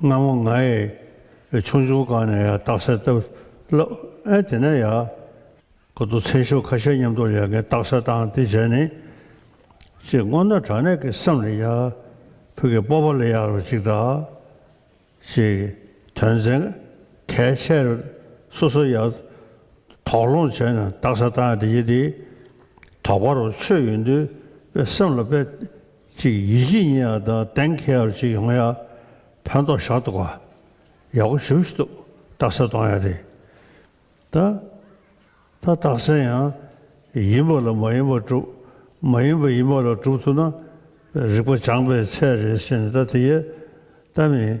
སྔ་མོ་ང་ཡི་ཆུང་ཆུང་སྒང་ནས་ཡང་རྟགས་གསལ་བཏབ་ལབ་ཨེ་དེ་ནས་ཡག་གོ་འདུག་མཚན་ཤོ་ཁ་ཤས་མཉམ་འདུག་ལས་མཁན་རྟགས་གསལ་བཏང་དེ་བྱས་ནི། ཅེས་སྔོ་ནག་དྲ་གནས་ཀྱི་སེམས་ལ་ཡག་ཕུག་གི་སྤོབས་པ་ལ་ཡག་ལ་ཅིག་དག་ཅེས་དོན་ཚན་གལ་ཆེ་རེ་སོ་སོ་ཡག་དོགས་སློང་བྱས་ནས་རྟགས་གསལ་བཏང་ཡ་དེ་ཡི་དེ་དོགས་པ་རོ་ཆོད་ཡོད་འདུག་པས་སེམས་ལ་དཔེ་ཅིག་ཡིད་བཞིན་ཉིད་ཡང་དང་ལྡན་ཁྱེད་ཡར་ཅིག་ཡོང་ཡ། ཕན་ཐོགས་ཞག་ཏུ་དགའ། ཡག་པོ་ཞིབ་ཏུ་བཏགས་ས་གཏོང་ཡ་རེད། ད་ད་བཏགས་ས་ཡང། ཡིན་པ་ལ་མ་ཡིན་པ་སྒྲུབ། མ་ཡིན་པ་ཡིན་པ་ལ་སྒྲུབ་ཐུབ་ན། རིག་པ་སྦྱངས་པའི་ཚད་རེད་ཟེར་ནས་ད་དེ་ཡས་ད་མིན།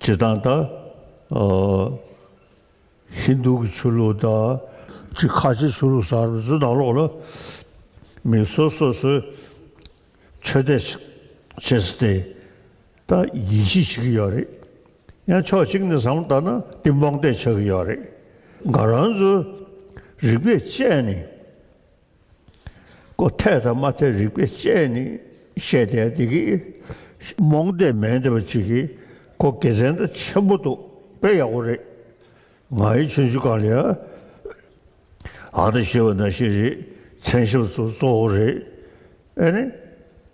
བྱེ་ཐང་དང། ཧིན་རྡུ་གི་ཆོས་ལུགས་དང། གཅིག་ཁ་ཆེའི་ཆོས་ལུགས་སམ་རིག་འཛིན་ནང་ལོགས་ལ། མི་སོ་སོ་སོའི་ཆོས་དད་བྱེད་སྲིད་དེ། ད་ཡིད་ཆེས་བྱེད་ཀྱི་ཡོད་རེད། ཡང་ཕྱོགས་གཅིག་ནས་བཟང་བལྟ་ན་སྟེ་རྨོངས་དད་ཆགས་ཀྱི་ཡོད་རེད། འགའ་རང་ཚོའི་རིག་པས་དཔྱད་ནས་ཀོ་ཐལ་དང་མ་ཐལ་རིག་པའི་དཔྱད་ནི་བཤད་དེ་འདི་གི། རྨོངས་དད་མེད་འདི་བ་ཅིག་གིས་ཀོ་དགེ་མཚན་དང་ཆེན་པོ་འདུག་དཔེ་ཡག་པོ་རེད། ང་ཡི་མཆན་ཆུ་གང་ལས་ཨ། ཨ་ད་ཤེས་པ་ན་ཤེས་རེད་མཚན་ཞབས་སུ་གཙོ་བོ་རེད་ཨེ།